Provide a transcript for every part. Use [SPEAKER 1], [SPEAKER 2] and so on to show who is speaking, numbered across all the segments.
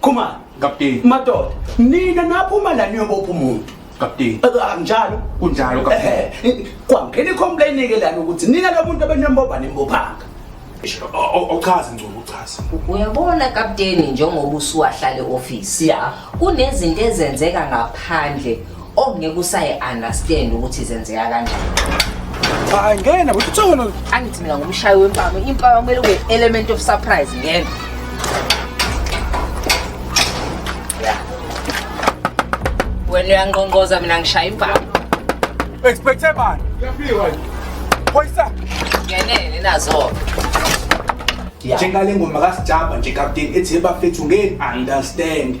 [SPEAKER 1] khumani kapteni madoda nina naphuma la niyobopha umuntu kapteni anjalo kunjalo kapteni kwangena icomplain ke lana ukuthi nina lo muntu abenembobha nembophanga ochaza ngcobo uchaza uyabona
[SPEAKER 2] kapteni njengoba usuwahlale office ya kunezinto ezenzeka ngaphandle okungeke oh, usayi understand ukuthi zenzeka kanjani hayi
[SPEAKER 3] ngena ukuthi uthona angithi mina ngumshayi
[SPEAKER 2] wempama impama kumele kube element of surprise ngena wena uyangqongqoza mina ngishaya impama expecte
[SPEAKER 3] bani uyafika phoyisa ngenene
[SPEAKER 2] nazo
[SPEAKER 1] njengale ngoma kasijamba nje kapteni ethi bafethu ngeke understand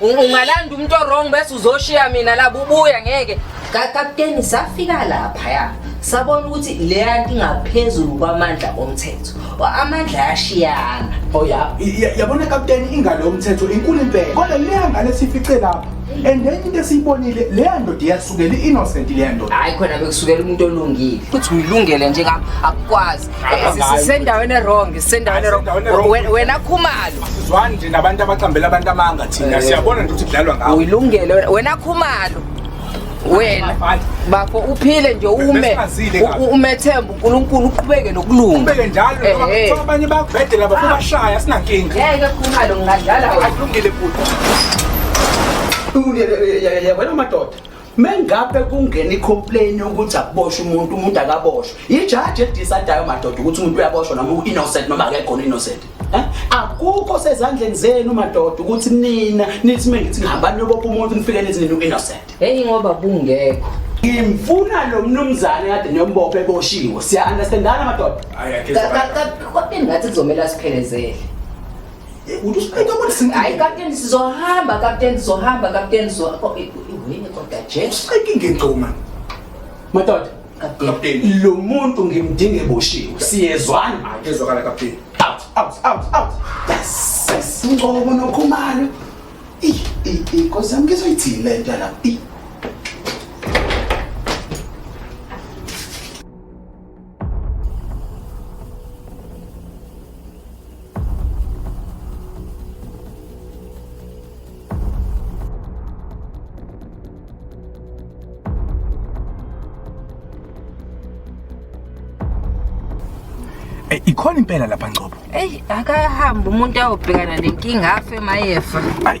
[SPEAKER 2] ungalanda umuntu orong bese uzoshiya mina la bubuya ngeke kakapteni safika lapha ya sabona ukuthi leya nto ingaphezulu kwamandla omthetho amandla yashiyana oh ya
[SPEAKER 1] yabona kapteni ingalo yomthetho inkulu impela kodwa leya ngane sifice lapha and then into esiyibonile leya ndoda iyasukela i-innocent leya ndoda hayi khona bekusukela umuntu
[SPEAKER 2] olungile ukuthi uyilungele nje ngam akukwazi sisendaweni erong sisendaweni erong wena khumalo sizwani nje nabantu
[SPEAKER 1] abaqambela abantu amanga thina eh. siyabona nje ukuthi kudlalwa ngawo uyilungele wena
[SPEAKER 2] khumalo wena bafo uphile nje ume umethemba uNkulunkulu uqhubeke nokulunga ubeke njalo ngoba eh,
[SPEAKER 1] eh. abanye bakubhedela bafuna ah. bashaya sinankinga ngeke khumalo
[SPEAKER 2] ngingadlala akulungile
[SPEAKER 1] futhi uyalungile yabona amadoda mengabe kungena icomplain yokuthi akuboshwe umuntu umuntu akaboshwe yijaji edisadayo madoda ukuthi umuntu uyaboshwa noma u-innocent noma akekhona innocent eh? akukho sezandleni zenu madoda ukuthi nina nithi mengithi ngihambani niyobopha umuntu nifike nithi nina u-innocent heyi ngoba bungekho
[SPEAKER 2] ngimfuna
[SPEAKER 1] lo mnumzane kade niyombopha eboshiwe siya-understandana madoda
[SPEAKER 2] kodwa ngathi kuzomele asiphelezele Hayi kapteni sizohamba kapteni sizohamba kapteni sizohambini kodwa jesuqekingengcoma
[SPEAKER 1] madoda kapteni lo muntu ngimdinge boshiwe siyezwana manje ezwakala kapteni out out out out yes ngcobo nokhumalo i i i kosi yami ngizoyithini le nto la i
[SPEAKER 3] Eh, ikhona impela lapha Ngcobo. Ey, akahamba
[SPEAKER 2] umuntu ayobhekana nenkinga afe mayefa. Ay.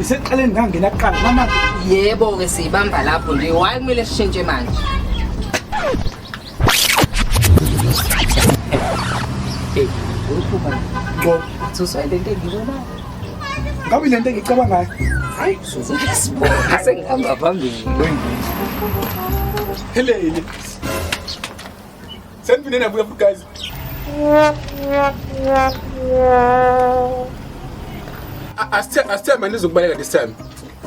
[SPEAKER 2] Isekuqaleni ngangena kuqala
[SPEAKER 3] mama. Yebo ke
[SPEAKER 2] siyibamba lapho nje. Why kumele sishintshe manje? Hey, ukhupha. Ngo, ususa
[SPEAKER 3] le nto
[SPEAKER 2] engibona. Ngabe
[SPEAKER 3] le nto engicabangayo. Hayi, sizokhe
[SPEAKER 2] sibone sengihamba phambili.
[SPEAKER 3] Helele. Sengiphinde nabuya futhi guys. Asithemba nizokubaleka this time.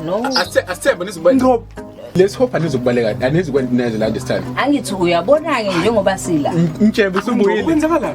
[SPEAKER 3] No.
[SPEAKER 2] Asithemba
[SPEAKER 3] nizokubaleka. No. Let's hope anizokubaleka anizikwenza neze la this time. Angithi uyabona
[SPEAKER 2] ke njengoba sila. Ngitshebe usubuyile.
[SPEAKER 3] Kwenzakala.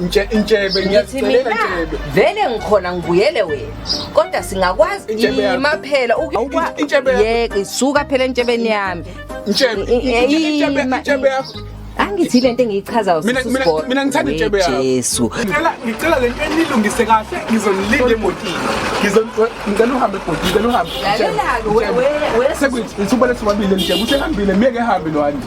[SPEAKER 2] Nje intshebe
[SPEAKER 3] ngiyazicelela intshebe. Vele ngikhona
[SPEAKER 2] ngibuyele wena. Kodwa singakwazi ima phela ukwa. Yeke suka phela entshebeni yami. Intshebe intshebe
[SPEAKER 3] intshebe yakho. Angithi lento
[SPEAKER 2] engiyichazayo mina mina mina ngithanda intshebe yakho.
[SPEAKER 3] Jesu. Ngicela
[SPEAKER 2] ngicela lento
[SPEAKER 3] enilungise kahle ngizonilinda emotini. Ngizongicela uhambe ebhodini, ngicela uhambe. Lalela-ke wewe.
[SPEAKER 2] Sekuyithi usubalethwa
[SPEAKER 3] babili nje, usehambile, miyeke ehambe lo Andy.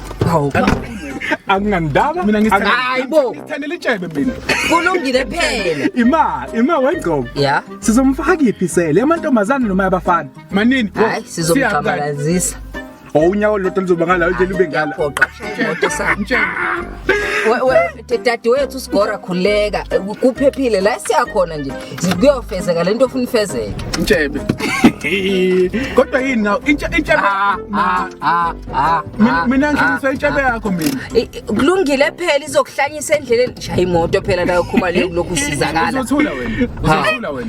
[SPEAKER 3] Hawu. Angingandaba. Mina ngithanda. Hayi bo. Ngithanda
[SPEAKER 2] litshebe mina.
[SPEAKER 3] Kulungile
[SPEAKER 2] phela. Ima, ima
[SPEAKER 3] wengqobo. Yeah. Sizomfaka
[SPEAKER 2] iphi
[SPEAKER 3] sele amantombazane noma abafana? Manini bro. Hayi
[SPEAKER 2] sizomqabalazisa. Oh unyawo
[SPEAKER 3] lodwa lizoba ngala nje libe ngala. Yaphoqa. Moto sa.
[SPEAKER 2] Mtshela. We we dadewethu sigora khuleka kuphephile la siyakhona nje kuyofezeka lento ofuna ifezeke intshebe
[SPEAKER 3] kodwa yini naw intshebe ah, ah, ah, mina ngisho intshebe yakho mina kulungile
[SPEAKER 2] phela izokuhlanyisa endleleni shaya imoto phela la yokhuma leyo kulokhu usizakala uzothula wena uzothula
[SPEAKER 3] wena